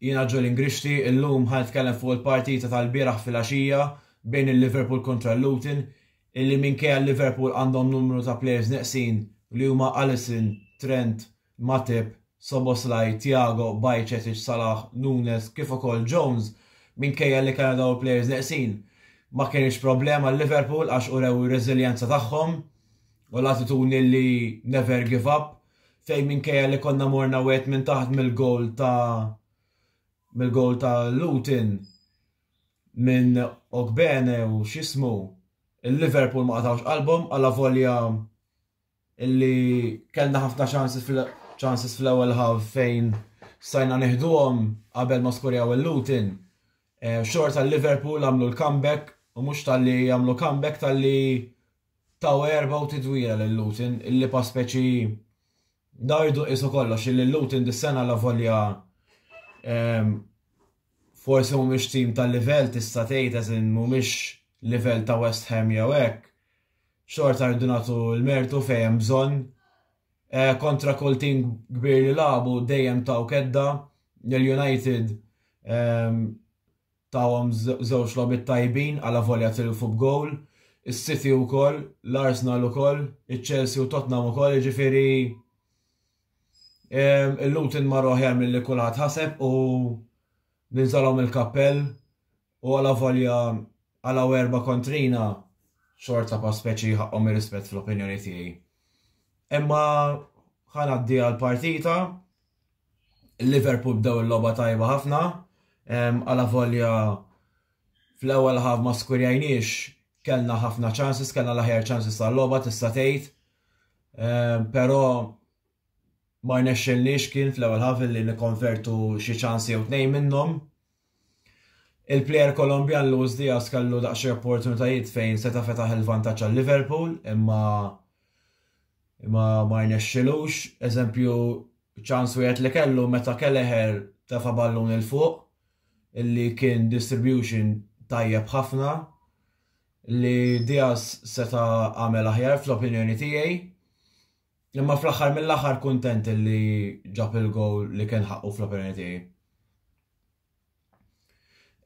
Jiena Ġuli Ngrixti, illum ħa nitkellem fuq il-partita tal-bieraħ filgħaxija bejn il-Liverpool kontra l-Luton, illi minkejja li Liverpool għandhom numru ta' plejers neqsin li huma Alisson, Trent, Matip, Szoboszlai, Thiago, Bajcetic, Salah, Nunes kif ukoll Jones, minkejja li kellna dawn il-plejers neqsin, ma kinitx problema għal Liverpool għax urew ir-reżiljenza tagħhom u l-attitudni li never give up. fejn minkejja li konna morna wieħed minn taħt mill-gowl ta' mill-gowl ta' Luton minn Ogbene u x'ismu il-Liverpool ma qatawx qalbhom għala volja illi kellna ħafna ċansis fl-ewwel ħaw fejn sajna neħduhom qabel ma skorjaw il-Luton. Eh, xorta l-Liverpool għamlu l-comeback u mhux tal-li għamlu comeback tal-li Taw għerba u tidwira lil Luton illi pa speċi daw jridu jqisu kollox illi Luton dis-sena allavolja forsi mhumiex tim ta' livell tista' tgħid as in mhumiex livell ta' West Ham jew hekk, xorta rridu nagħtu l-mertu fejn hemm bżonn. Eh, kontra kull tim kbir li labu dejjem taw kedda l-United Tahom żewġ logħbiet tajbin alavolja tilfu b'gowl, is-City wkoll, l-Arsenal ukoll, iċ-Chelsea u Tottenham ukoll, jiġifieri il-Luton mar aħjar milli kulħadd ħaseb u ninżalhom il-kappell u alavolja għalaw erba' kontrina xorta pa' speċi ħaqqhom ir-rispett fl-opinjoni tiegħi. Imma ħa ngħaddi għall-partita Il-Liverpool bdew il-logħba tajba ħafna, għalavolja fl-ewwel ħaf ma skurjajniex kellna ħafna ċansis, kellna l-aħjar ċansis tal-logħba tista' tgħid. Però ma rnexxilniex kien fl-ewwel ħaf li nikkonvertu xi ċansi jew tnejn minnhom. Il-plejer Kolombjan Luis Diaz kellu daqsxejn opportunitajiet fejn seta' fetaħ il-vantaġġ għal Liverpool imma imma ma rnexxilux. Eżempju, ċans wieħed li kellu meta Kelleher tefa' ballun il fuq illi kien distribution tajjeb ħafna li Diaz seta' għamel aħjar fl-opinjoni tiegħi. Imma fl-aħħar mill-aħħar kuntent li ġab il-gowl li kien ħaqqu fl-opinjoni tiegħi.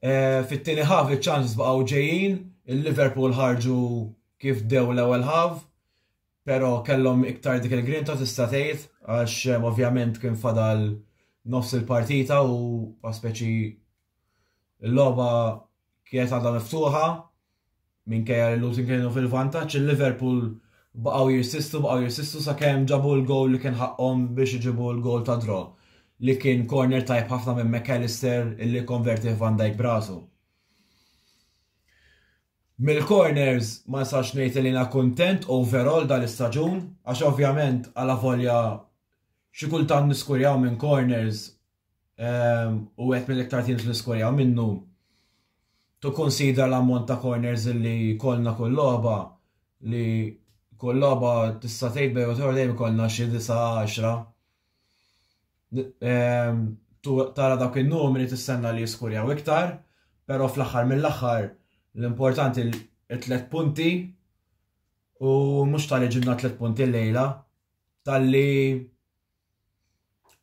E, Fit-tieni ħaf iċ-ċansis baqgħu ġejjin, il-Liverpool ħarġu kif dew l-ewwel ħaf, però kellhom iktar dik il-grinta tista' tgħid għax ovvjament kien fadal nofs il-partita u speċi Il-logħba kienet għadha miftuħa minkejja li Luton kienu fil-vantaġġ, il-Liverpool baqgħu jirsistu, baqgħu jirsistu sakemm ġabu l-gowl li kien ħaqqhom biex iġibu l-gowl ta' draw li kien corner tajb ħafna minn McAllister illi konverti Van Dijk brasu. Mill-corners ma nistax ngħid li na kuntent overall dal-istaġun għax ovvjament għala volja xi kultant niskurjaw minn corners u għet mill-iktar teams li skorjaw minnu tu konsidra l-ammont ta' corners li kolna kull logħba li kull logħba tista' tgħid bejn u dejjem kolna xi 9-10. Tara dak in-numri tistenna li jiskurjaw iktar, però fl-aħħar mill-aħħar l-importanti l-tlet punti u mhux tal-li ġibna tlet punti l-lejla tal-li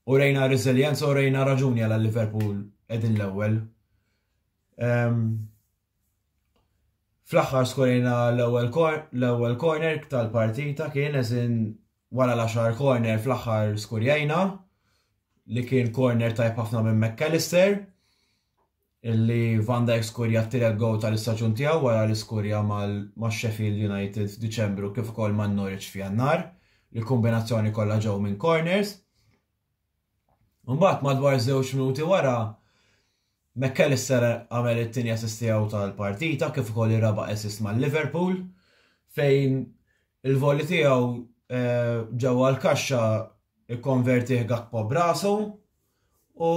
Urejna resilienza, urejna raġuni għal Liverpool edin l-ewwel. Ehm, fl-aħħar skorejna l-ewwel corner tal-partita kien eżin wara l-10 corner fl-aħħar skorjajna li kien corner tajb ħafna minn McAllister. illi Van Dijk skurja t-tielet gowl tal-istaġun tiegħu wara li skurja max-Sheffield United f'Diċembru kif ukoll ma' Norwich f'Jannar, li kombinazzjoni kollha ġew minn corners. Imbagħad madwar żewġ minuti wara McAllister għamel it-tieni assist tiegħu tal-partita kif ukoll ir-raba' assist ma' Liverpool fejn il-voli tiegħu eh, ġewwa l-kaxxa ikkonvertih Gakpo brasu U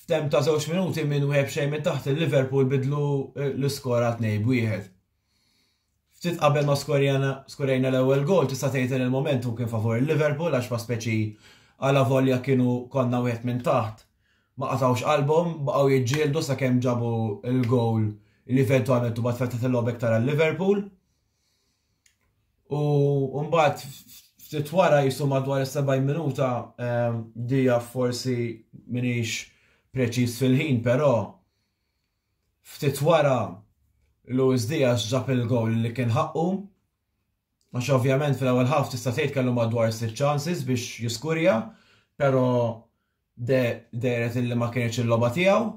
f'tem ta' żewġ minuti minn wieħed xejn minn taħt il-Liverpool bidlu eh, l-iskor għal tnej b'wieħed. Ftit qabel ma skorjajna l-ewwel gol tista' tgħid li l-moment hu kien favur il-Liverpool għax ma speċi għala volja kienu konna wieħed minn taħt ma qatawx qalbhom baqgħu jiġġieldu sakemm ġabu l-gol li eventualment u bat fetħet il-lobek tara l-Liverpool. U mbagħad ftit wara jisu madwar is-70 minuta ehm, dija forsi minix preċiż fil-ħin, però ftit wara Luis Diaz ġab il-gowl li kien ħaqqu. Għax ovvjament fil-ewwel ħaf tista' tgħid kellu madwar sitt chances biex jiskurja, però deret illi ma kienx il-logħba tiegħu.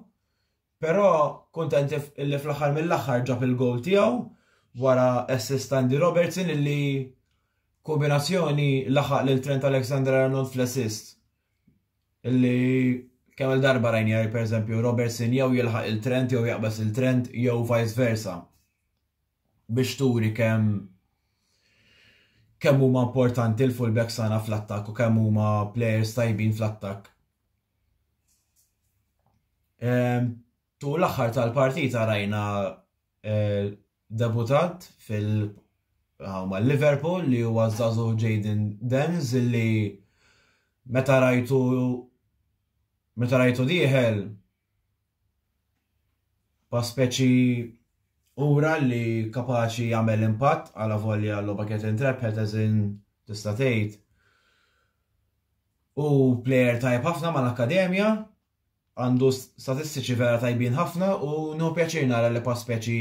Però kuntent illi fl-aħħar mill-aħħar ġab il-gowl tiegħu wara assist ta' Andy Robertson illi kombinazzjoni laħaq lil Trent Alexander-Arnold fl-assist illi kemm il-darba rajni per eżempju Robertson jew jilħaq il-Trent jew jaqbes il-Trent jew vice versa biex turi kemm kemm huma importanti l-fullbacks tagħna fl-attakk u kemm huma players tajbin fl-attakk. Tu l-aħħar tal-partita rajna eh, debutat fil- ma' Liverpool li huwa żazu Jaden Denz li meta rajtu meta rajtu dieħel Pa speċi ura li kapaċi jagħmel impatt għala volja l-logħba kienet intrepħet eżin tista' tgħid. U plejer tajb ħafna mal-akkademja, għandu statistiċi vera tajbin ħafna u nu pjaċir nara li pa' speċi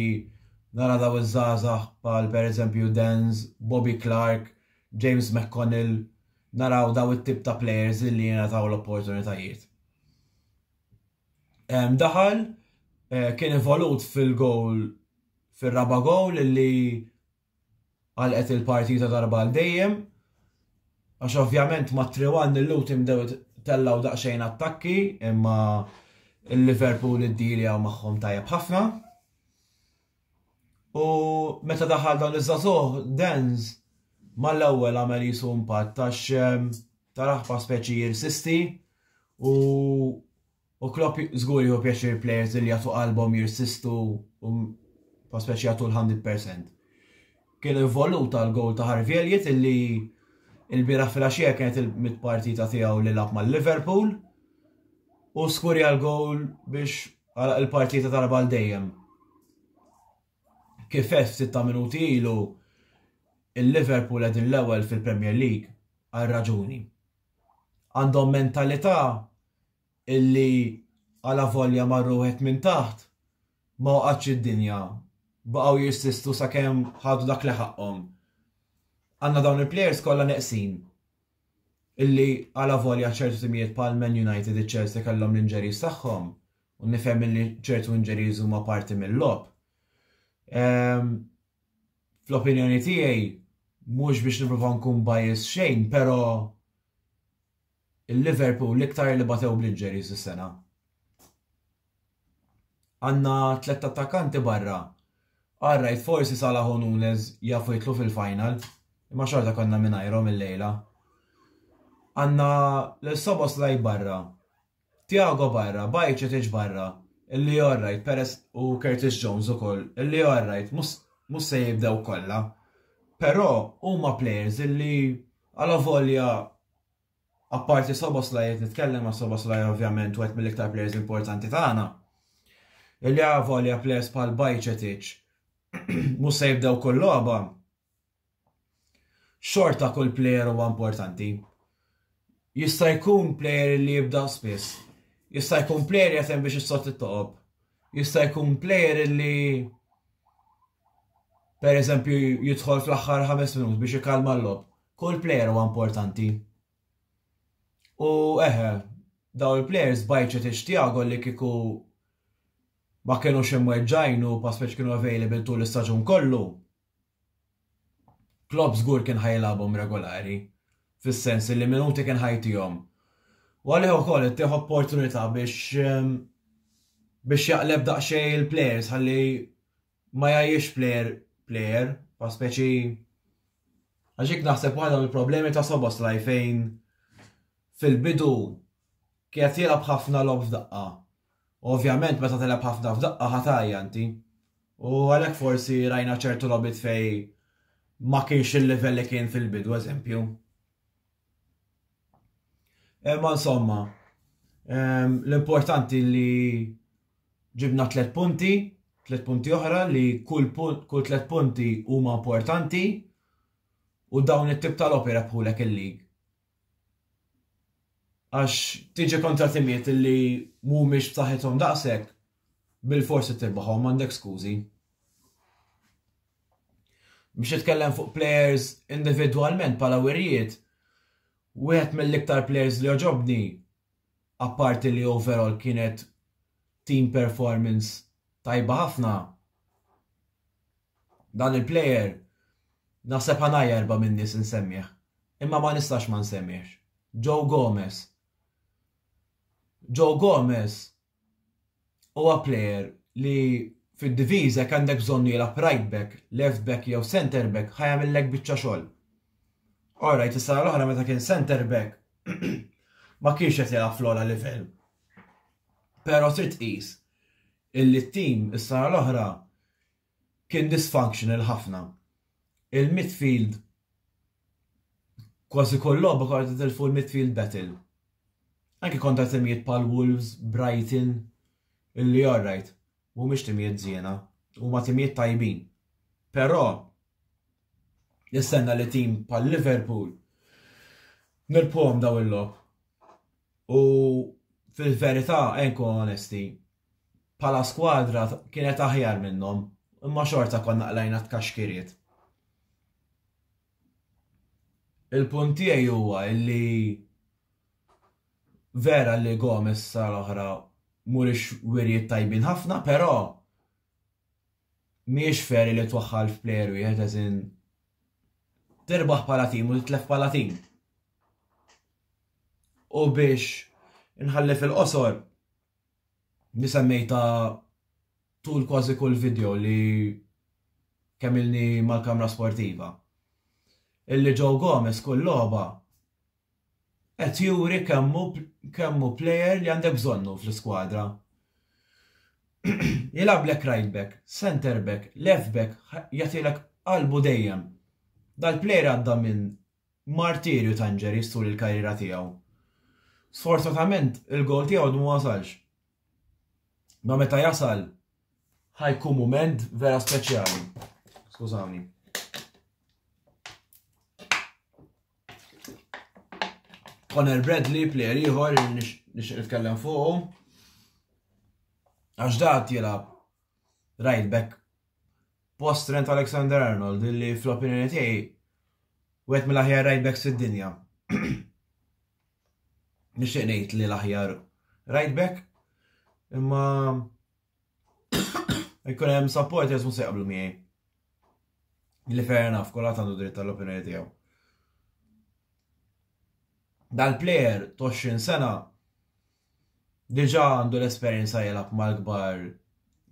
nara daw iż-żazax pal per eżempju Denz, Bobby Clark, James McConnell, naraw daw it-tip ta' players li jena taw l-opportunitajiet. Daħal eh, kien involut fil-gowl fir-raba gowl li għalqet il-partita darba għal dejjem. Għax ovvjament ma' 3-1 il-lutim dew tellaw daqsxejn attakki imma il-Liverpool id-dili għaw maħħom tajab ħafna. U meta daħal dan iż-żazuħ, Denz, mal-ewwel għamel jisu impatt għax ehm, tal-aħfa speċi jirsisti u u Klopp żgur jieħu pjaċir players li jagħtu qalbhom jirsistu u pa speċi jagħtu l-100%. Kien involuta l-gowl ta' Harvey Elliot illi il-bira fil-axija kienet il-mit partita tiegħu li lab mal-Liverpool u skurja l-gowl biex għala il-partita tal-bal dejjem. Kif għedt ftit ta' minuti ilu, il-Liverpool qegħdin l-ewwel fil-Premier League għal raġuni. Għandhom mentalità illi għalavolja marru wieħed minn taħt ma waqgħatx id-dinja, baqgħu jirsistu sakemm ħadu dak li ħaqqhom. Għandna dawn il-plejers kollha neqsin. illi alavolja ċertu timijiet bħal Man United iċ-Chelsea kellhom l-injuries tagħhom, u nifhem illi ċertu injuries huma parti mill-logħob. Ehm, fl-opinjoni tiegħi mhux biex niprofaw nkun bias xejn, però il-Liverpool l-iktar li batew bl-injuries is-sena. Għandna tlett attakkanti barra. All right, forsi Salah u Nunez jafu jidħlu fil-final, imma xorta konna mingħajrhom illejla. Għandna lil Szoboszlai barra, Thiago barra, Bajcetic barra, illi all right, peress u Curtis Jones ukoll, illi all right, mhux se jibdew kollha. Però huma players illi għala volja apparti Szoboszlai qed nitkellem għax Szoboszlai ovvjament wieħed mill-iktar plejers importanti tagħna. Illi għavolja plejers bħal Bajċetic mhux se jibdew kull logħba. Xorta kull plejer huwa importanti. Jista' jkun plejer li jibda spiss. Jista' jkun plejer jatem biex issott it-toqob. Jista' jkun plejer li per eżempju jidħol fl-aħħar ħames minut biex ikalma l-lob. Kull player huwa importanti. U eħe, daw il-players bajċet tixtija għol li kiku ma kienu ximweġġajn u paspeċ kienu available tul l-istaġun kollu. Klopp żgur kien ħajlabhom regolari, fis-sens li minuti kien ħajtihom. U għalih ukoll ittieħ opportunità biex ehm, biex jaqleb daqsxejn il-players ħalli ma jgħajjirx plejer plejer, pa speċi għax jekk naħseb waħda mill-problemi ta' Soboslaj fejn fil-bidu kienet jilgħab ħafna logħob f'daqqa. Ovvjament meta telgħab ħafna f'daqqa ħatajja inti. U għalhekk forsi rajna ċertu logħbiet fej ma kienx il-livell li kien fil-bidu eżempju. Eh, ma insomma, ehm, l-importanti li ġibna tlet punti, tlet punti oħra li kull, punt, kull tlet punti huma importanti u dawn it-tip tal-opera bħulek il-lig. Għax tiġi kontra timiet li mhumiex b'saħħithom daqshekk, Bilforsi tirbahom m'għandek skużi. Biex titkellem fuq players individwalment bħala wirjiet, wieħed mill-iktar players li għoġobni, apparti li overall kienet team performance tajba ħafna, dan il-player naħseb ħanajja erba' min-nies insemmih, imma ma nistax ma nsemmihx. Joe Gomez. Joe Gomez Huwa plejer li fid-diviża jekk għandek bżonnu jilgħab right back, left back jew centre back ħa jagħmillek biċċa xogħol. Alright, is-sena l-oħra meta kien centre back ma kienx qed jilgħab fl-ogħla livell. Però trid tqis illi t-tim is-sena l-oħra Kien dysfunctional ħafna. Il-midfield kważi kull logħba konna nitilfu l-midfield battle. Anke kontra timijiet bħal Wolves, Brighton, illi alright, mhumiex timijiet żiena, huma timijiet tajbin. Però nistenna li tim bħal Liverpool nilbħuhom dawn il-logħob. U fil-verità, ejn nkunu onesti, bħala skwadra kienet aħjar minnhom, imma xorta konna qlajna t-tkaxkiriet. Il-punt tiegħi huwa li vera li Gomez sar oħra mhuriex wirijiet tajbin ħafna, però mhijiex feri li twaħħal f'plejer wieħed eżin tirbaħ bħala tim u titlef bħala tim. U biex inħalli fil-qosor, li semmejta tul kważi kull video li kemm ilni mal-kamra sportiva. Illi Joe Gomez kull logħba qed juri kemmu kemmu player li għandek bżonnu fl-iskwadra. Jilablek right back, center back, left back, jatilek qalbu dejjem. Dal-player għadda minn Martirju ta' injuries tul il-karriera tiegħu. Sfortunatament il-goal tiegħu għadu ma wasalx. Ma meta jasal ħajkun mument vera speċjali. Skużawni. Conor Bradley, player ieħor, nix nitkellem fuqu. Għax dat jilab right back post Trent Alexander-Arnold li fl-opinjoni tiegħi wieħed mill-aħjar right backs fid-dinja. Nixtieq ngħid li l-aħjar right back imma jkun hemm support jeżmu se jaqblu miegħi. Li fair enough, kulħadd għandu dritt tal-opinjoni tiegħu. Dal-player 20 sena diġà għandu l-esperjenza jilgħab mal-kbar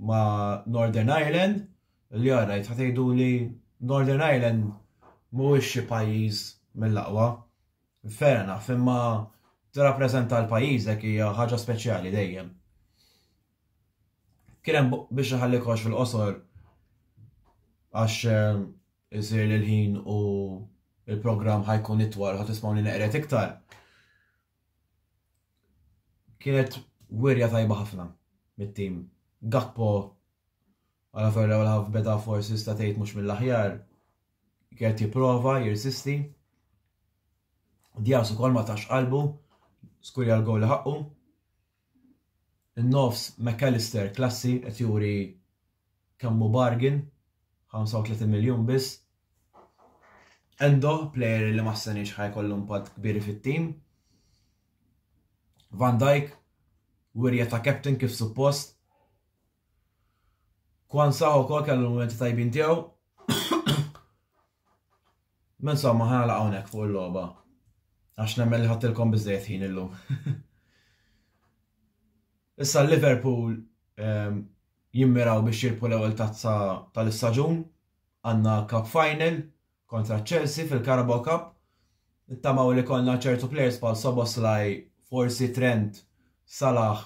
ma' Northern Ireland li għarajt ħatejdu li Northern Ireland mhuwiex xi pajjiż mill-aqwa. Fair enough, imma tirrappreżenta l-pajjiżek hija ħaġa speċjali dejjem. Kien hemm biex iħalli kollox fil-qosor għax eh, isir li l-ħin u il-programm ħajkun itwal ħadd ismawni neqret iktar. Kienet wirja tajba ħafna mit-tim. Gakpo għala fuq l-ewwel ħaf beda forsi sta tgħid mhux mill-aħjar. Kienet jipprova jirsisti. Dias ukoll ma tax qalbu, skurja l-gowl li ħaqqu. In-nofs Mac Allister klassi qed juri kemm hu bargain, 35 miljun biss. Endo, player li ma ħseniex ħa jkollu impatt kbir fit-tim. Van Dijk, wirja ta' captain kif suppost. Kwanzaa ukoll kellu l-mumenti tajbin tiegħu. Ma insomma, ħa nagħlaq hawnhekk fuq il-logħba għax nemmen li ħadtilkom biżejjed ħin illum. Issa Liverpool ehm, jimmiraw biex jirpu l-ewwel tazza tal-istaġun għandna Cup Final kontra Chelsea fil-Carabao Cup. Ittamaw li konna ċertu players pal Soboslaj, forsi Trent, Salah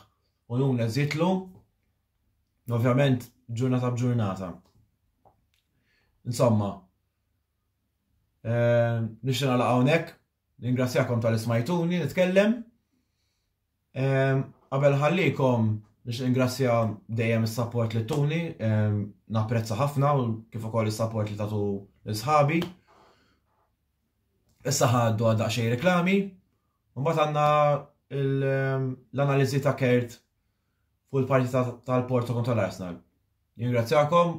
u Nunes jitlu. Ovvjament ġurnata b'ġurnata. Insomma, Ehm, Nixtieq nagħlaq hawnhekk, ningrazzjakom tal-ismajtuni nitkellem. Ehm, qabel ħallikom biex ingrazzja dejjem is-support li tuni, ehm, napprezza ħafna u kif ukoll is-support li tatu l-sħabi. Issa ħaddu għadda xej reklami, u mbagħad għandna l-analiżi ta' Kert fuq il-parti tal-Porto kontra l-Arsenal. Jingrazzjakom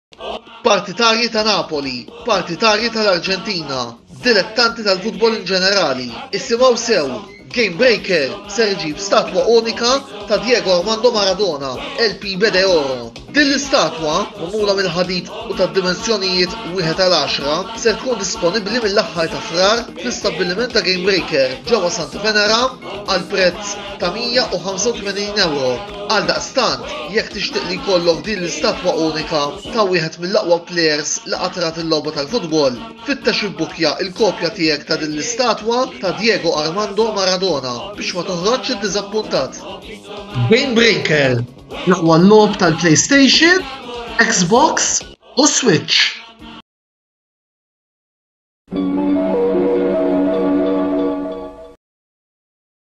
Partitarji ta' Napoli, partitarji tal-Arġentina, dilettanti tal-futbol in ġenerali, issimgħu sew, Game Breaker ser iġib statwa unika ta' Diego Armando Maradona, El Pibe de Oro. Din l-istatwa, magħmula mill-ħadid u ta' dimensjonijiet wieħed għal għaxra, ser tkun disponibbli mill-aħħar ta' Frar fl-istabbiliment ta' Game Breaker ġewwa Santa Venera għal prezz ta' 185 ewro. Għaldaqstant, jekk tixtieq li jkollok din l-istatwa unika ta' wieħed mill-aqwa plejers li qatt rat il-logħba tal-futbol, fittex ibbukkja l-kopja tiegħek ta' din l-istatwa ta' Diego Armando Maradona biex ma toħroġx iddiżappuntat. Game Breaker, l-aqwa logħob tal-PlayStation, Xbox u Switch.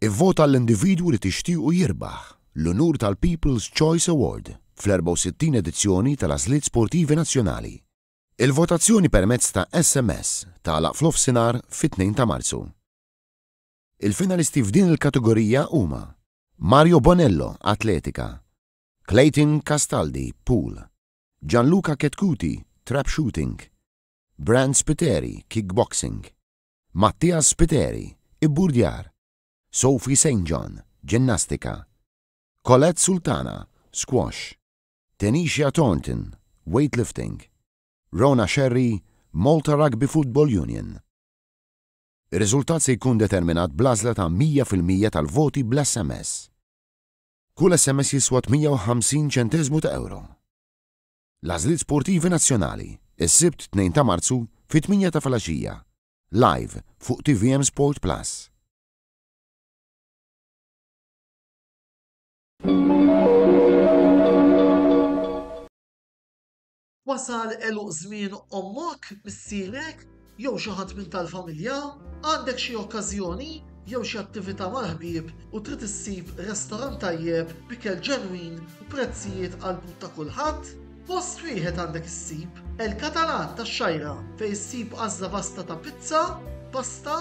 Ivvota għall-individwu li tixtiequ jirbaħ l-unur tal-People's Choice Award fl-64 edizzjoni tal-Għażliet Sportivi Nazzjonali. Il-votazzjoni permezz ta' SMS tagħlaq f'nofsinhar fit-2 ta' Marzu. Il-finalisti f'din il-kategorija huma Mario Bonello, Atletika, Clayton Castaldi, Pool, Gianluca Chetcuti, Trap Shooting, Brand Spiteri, Kickboxing, Mattias Spiteri, Ibburdjar, Sophie Saint John, Ġinnastika, Colette Sultana, Squash, Tenisha Thornton, Weightlifting, Rona Scerri, Malta Rugby Football Union. Ir-riżultat se jkun determinat bl-għażla ta' 100 fil-mija tal-voti bl-SMS. Kull SMS jiswa 58 ċenteżmu ta' ewro. L-għażliet sportivi nazzjonali, is-Sibt 2 ta' Marzu fit-tmienja ta' filgħaxija, live fuq tvm Sport Plus. Wasal għeluq żmien ommok, missierek, jew xi ħadd minn tal-familja? Għandek xi okkażjoni jew xi attività mal-ħbieb u trid issib restorant tajjeb b'ikel ġenwin u prezzijiet għall-but ta' kulħadd? Post wieħed għandek issib, El Catalan tax-Xgħajra, fejn issib għażla vasta ta' pizza, pasta,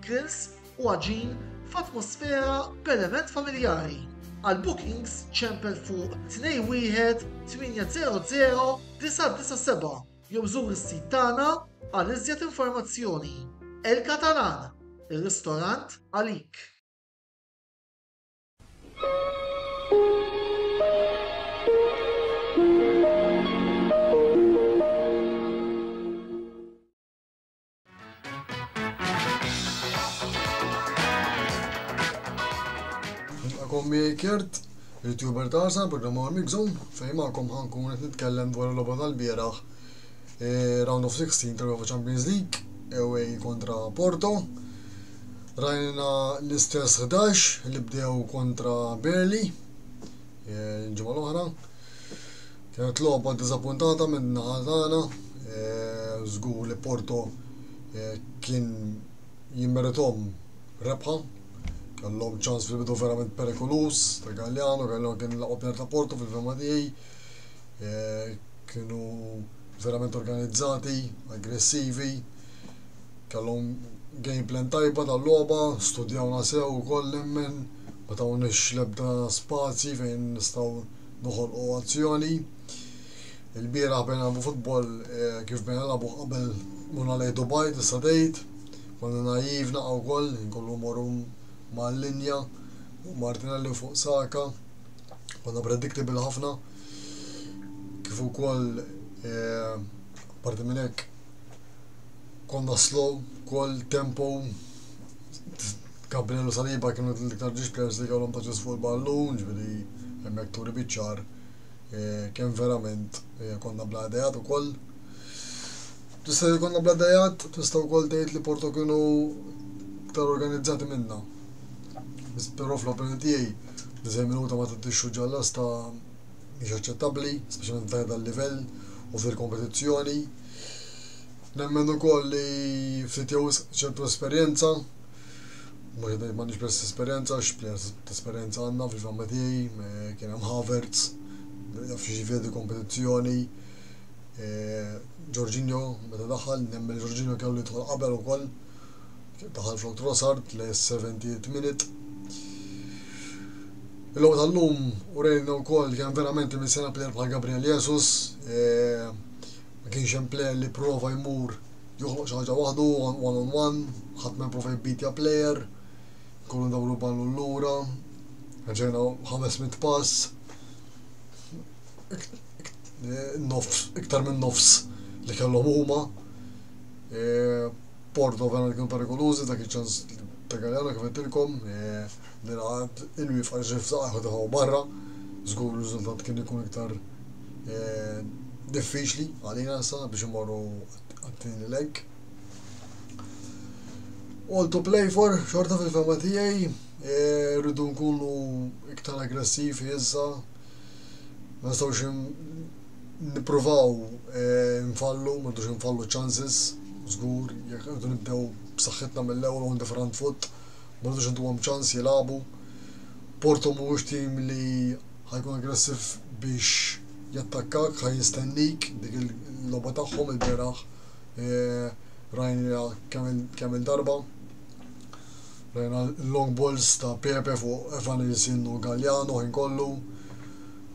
grills, u għaġin f'atmosfera b'element familjari. Għal bookings ċempel fuq 21 800 997 jew żur is-sit tagħna għal iżjed informazzjoni. El Catalan, ir-ristorant għalik! Kom Kert, il-tuber tarsa, programma għal Mixum, fej ma'kom ħankun qed nitkellem dwar l-loba tal-bieraħ e, round of 16 tal-UEFA Champions League, ewej kontra Porto. Rajna l-istess 11 li bdew kontra Berli, e, ġimgħa l-oħra, Kienet logħba diżappuntata min-naħa tagħna. Żgur li Porto kien jimmerithom rebħa. Kellhom ċans fil-bidu verament perikoluż ta' Galliano, Galliano kien l-aqwa player ta' Porto fil-fehma tiegħi. Kienu verament organizzati, aggressivi, kellhom game plan tajba tal-logħba, studjawna sew ukoll nemmen. Ma tawniex l-ebda spazji fejn nistgħu noħolqu azzjoni. Il-bieraħ bdejna nagħbu futbol eh, kif bdejna nagħbu qabel murna lejn Dubai tista' tgħid. Konna naiv naqa' wkoll, kollu morru mal-linja u Martinelli fuq Saka. Konna predictable ħafna. Kif ukoll eh, parti minn hekk konna slow, kol tempo Gabriel u Saliba kienu l-iktar ġiex players li kellhom possess fuq il-ballun, ġifieri hemmhekk turi biċ-ċar kemm verament konna bla ideat ukoll. Tista' tgħid konna bla ideat, tista' wkoll tgħid li Porto kienu iktar organizzati minna. Però fl-opinjoni tiegħi, diżejn minuta ma tiddixxu ġalla sta mhix aċċettabbli, speċjalment f'dan dal-livell u fil kompetizzjoni Nemmen ukoll li ftit jew ċertu esperjenza Mhux qed m'għandix biss esperjenza, x'players ta' esperjenza għandna fil Matej, kien hemm Havertz, jaf xi ġifieri kompetizzjoni. Ġorġinjo eh, meta daħal, nemmen Ġorġinjo kellu jidħol qabel ukoll. Daħal flok Trossard le 70 minute. Il-logħba tal-lum u rejna wkoll kien verament minn sena plejer bħal Gabriel Jesus, eh, ma kienx hemm plejer li prova jmur joħloq xi ħaġa waħdu, one on one, ħadd ma jipprova jibbeatja player, kollu ndawru ballu l-lura, ġejna 500 pass, iktar minn nofs li kellhom huma. E, Porto vera kienu perikolużi dak iċ-ċans Pegaljana kif qedtilkom, nilgħad e, il-wif għal ġifza għaħu barra, żgur riżultat kien ikun iktar diffiċli għalina sa biex imorru għat-tieni leg. All to play for, xorta fil-fema tijaj, e, rridu nkunu iktar aggressiv jizza, ma nistawx nipruvaw e, nfallu, ma nistawx nfallu chances, zgur, jek rridu nibdew b'saħħitna mill-ewwel on the front foot, ma nistawx ntuhom ċans jilabu. Porto mhuwiex tim li Ħa jkun aggressiv biex jattakkak, ħa jistennik, dik il-logħba tagħhom il-bieraħ rajna kemm il-darba. Rajna l-long balls ta' Pepe fuq Evanilson u Galliano ħin kollu.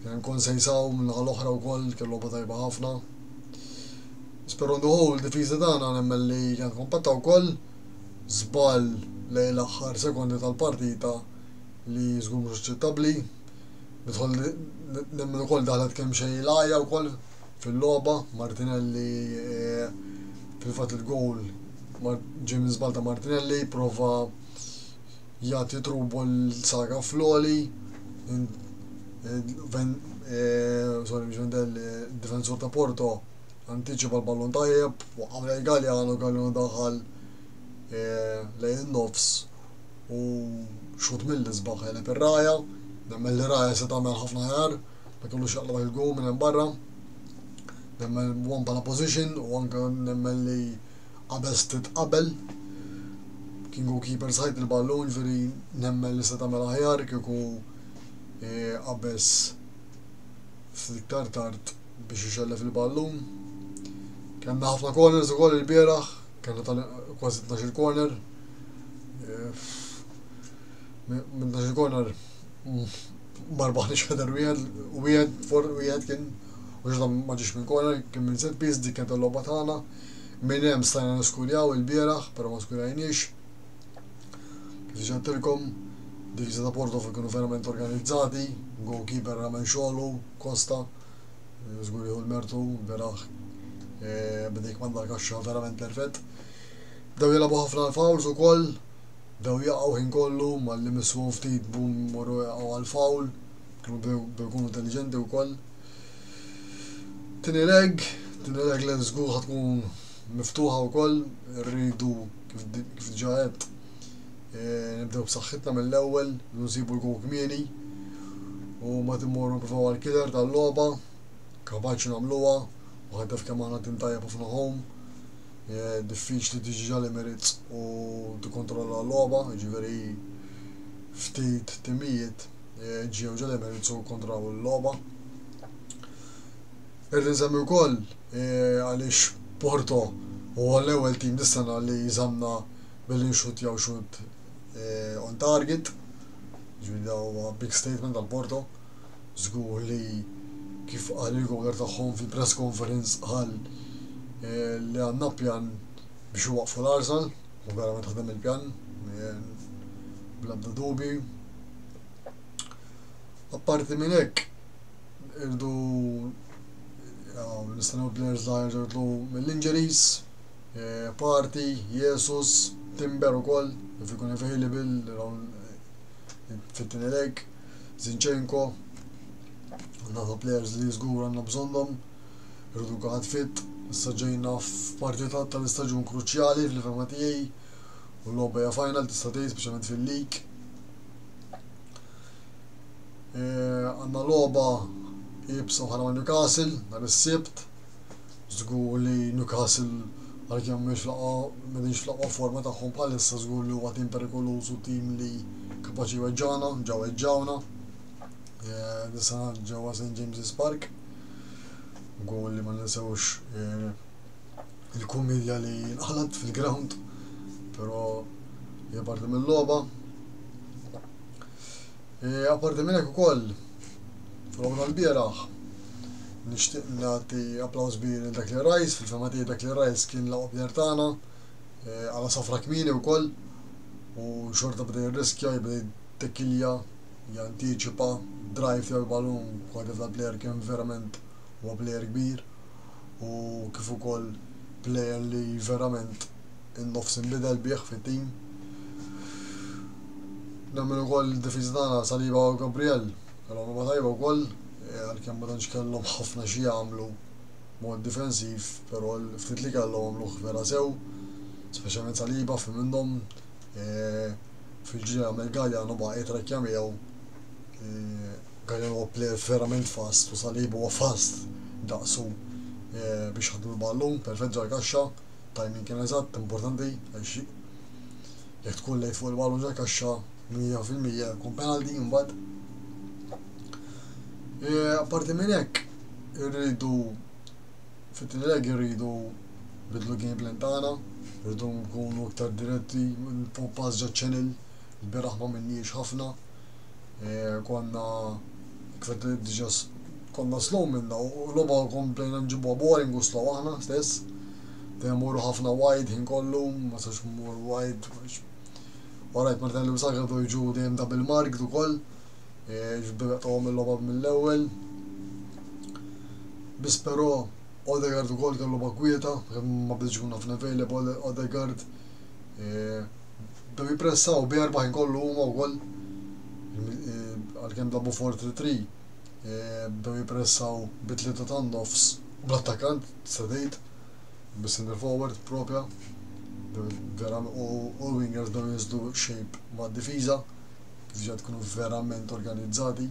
Kien hemm Konsejsaw min-naħa l-oħra wkoll kien logħba tajba ħafna. Speru nduħu l-difiża tagħna nemmen li kienet kompatta wkoll żball lejn l-aħħar sekondi tal-partita li żgur mhux aċċettabbli. Nidħol nemmen ukoll daħlet kemm xejn il-għajja wkoll fil-logħba, Martinelli fil-fatt il-gowl ġej minn żball ta' Martinelli, prova jagħti trubu l-saga floli, sorry mhux Vendel, difensur ta' Porto, antiċipa l-ballon tajjeb, waqgħu lejn Galliano, Galliano daħal lejn nofs u xhud mill-isbaħ għeleb ir-ragħajha, nemmen li ragħajha se tagħmel ħafna aħjar meta jkollux jaqlgħu jilqgħu minn hemm barra. Nemmen one bħala position u anke nemmen li qabeż titqabel. King u keeper sajt il-ballun ġifieri nemmen li se tagħmel aħjar kieku eh, qabeż fl-iktar tard biex ixellef il-ballun. Kenna ħafna corners ukoll il-bieraħ, kenna tal kważi 12 corner, Minn dax il-corner marbaħniex ħeder wieħed, wieħed for wieħed kien u ġdan ma ġiex minn corner, kien minn set piece dik kienet il-logħba tagħna. Minn hemm stajna niskurjaw il-bieraħ, però ma skurjajniex. Kif diġà tilkom, divisa ta' Porto kienu verament organizzati, goalkeeper ramen xogħlu, Kosta, żgur l-mertu, bieraħ eh, bdejk mandar kaxxa verament perfett. Bdew jilgħabu ħafna l-fouls ukoll, bdew jaqgħu ħin kollu, malli missuhom ftit bum imorru jaqgħu għall-foul, kienu bdew ikunu intelliġenti wkoll. Tieni leg, tieni leg li żgur ħa tkun miftuħa wkoll, irridu kif diġà għedt eh, nibdew b'saħħitna mill-ewwel, nsibu l-gow kmieni u ma timmorru nipprovaw għall-killer tal-logħba, kapaċi nagħmluha, u ħaddef kemm aħna tim tajjeb ħafna home. diffiċli tiġi l-Emirates u tikkontrolla l-logħba, jiġifieri ftit timijiet eh, ġew ġal-Emirates u kontraw il-logħba. Irrid nsemmi wkoll eh, għaliex Porto huwa l-ewwel tim dis-sena li jżamna billi nxut jew xut eh, on target. Ġifieri huwa big statement għal Porto. Żgur li kif qal il-Governur tagħhom fil-press conference qal li għandna pjan biex iwaqqfu l-għarsan u verament ħadem il-pjan bla ebda dubji. Apparti minn hekk irdu nistennew players żgħar jerġgħu jitlu mill-injuries, Party, Jesus, Timber ukoll, if ikun available fit-tieni leg. Zinchenko, għandna ta' players li żgur għandna bżonnhom, irridu kulħadd fit, issa ġejna f'parti ta' tal-istaġun kruċjali fl-fehma tiegħi u l-logħba hija final tista' tgħid speċjalment fil-lig. Eh, għandna logħba jibsa bħala ma' Newcastle nhar is-Sibt, Żgur li Newcastle għalkemm mhix l-aqwa m'qegħdinx fl-aqwa forma tagħhom bħalissa żgur li huwa tim perikoluż u tim li kapaċi jweġġagħna, ġa weġġgħuna din is-sena ġewwa St James's Park. Gowl li ma ninsewx il-kumedja li nqalgħet fil-ground, però hija parti mill-logħba. Apparti minn hekk ukoll, fil-logħba tal-bieraħ, nixtieq nagħti applaws kbir lil Declan Rice, fil-fehma tiegħi Declan Rice kien l-aqwa plejer tagħna, għala safra kmieni wkoll u xorta beda jirriskja, jibda jittekkilja, jantiċipa, drive tiegħu l-ballun, kwalità tal-plejer kien verament huwa plejer kbir u kif ukoll plejer li verament in-nofs inbidel bih fit-tim. Nemmen ukoll li d-difiża tagħna Saliba u Gabriel kellhom logħba tajba wkoll, għalkemm ma tantx kellhom ħafna xi jagħmlu mod difensiv, però l-ftit li kellhom għamluh vera sew, speċjalment Saliba fi minnhom fil-ġiri għamel Galjan u baqa' jitrekkja miegħu. Galjan huwa plejer verament fast u Saliba huwa fast daqsu biex ħaddu l-ballun perfett ġal kaxxa. timing kien eżatt, importanti għax jekk tkun lejt fuq il-ballun tal-kaxxa 100% jkun penalty imbagħad. E, apparti minn hekk irridu fit-tlileg irridu bidlu game plan tagħna, irridu nkunu iktar diretti, pass ġo channel, il-beraħ ma minniex ħafna, konna kifet li diġa konna slow minna u loba komplejna nġibuha boring u slow aħna stess. Dejjem morru ħafna wide ħin kollu, ma sax mur wide. Orajt Martin li msaka do jġu dejjem double mark du koll. Ġibdu jaqtawhom il-loba mill-ewwel. Bis però Odegaard ukoll kellu bakwieta, ma bdiġ kun ħafna available Odegaard. bdew jippressaw bi 40 gollu huma wkoll għalkemm labu 4-3-3 bdew jippressaw bi tlieta ta' nofs u bl-attakkant tista' tgħid bis-centre forward proprja u l-wingers bdew jinżlu shape mad-difiża kif ġa tkunu verament organizzati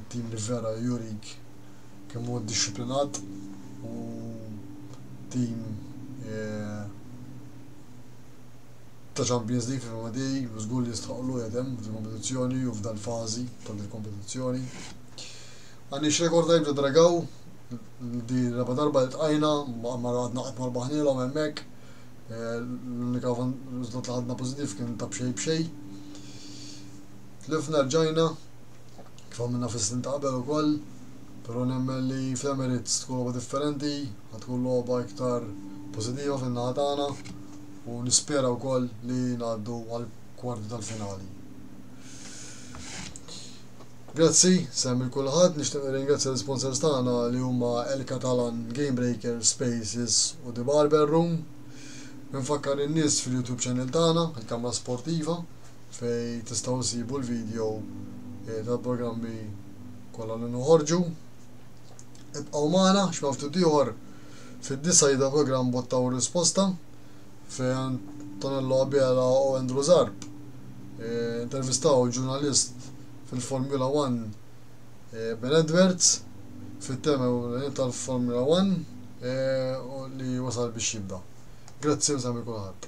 tim li vera jurik kemm huwa ddixxiplinat u tim ta' Champions League fi Famaday u żgur li jistħoqqlu qiegħed hemm f'din il-kompetizzjoni u f'dal-fażi ta' dil-kompetizzjoni. Għandniex rekord tajjeb ta' Dragaw, di raba' darba li tqajna, ma għadna qatt ma rbaħnielhom hemmhekk. Eh, l-unika riżultat li ħadna pożittiv kien ta' b'xejn b'xejn. Tlifna rġajna, kif għamilna fis-snin ta' qabel ukoll, però nemmen li fl-Emirates tkun logħba differenti, ħa tkun logħba iktar pożittiva fin-naħa tagħna u nispera wkoll li ngħaddu għall-kwarti tal-finali. Grazzi, sehem lil kulħadd, nixtieq nirringrazzja l-isponsors tagħna li huma El Catalan, Game Breaker, Spaces u The Barber Room. Nfakkar in-nies fil-YouTube channel tagħna, il-Kamra Sportiva, fejn tistgħu issibu l-video tal-programmi kollha li noħorġu. Ibqgħu magħna x'ma ftit ieħor fid-disa' jibda programm Botta u Risposta fejn Antonello Abela u Andrew Zarb eh, intervistaw ġurnalist fil-Formula 1 eh, Ben Edwards fit-tema tal-Formula 1 eh, li wasal biex jibda. Grazzi u sami kulħadd.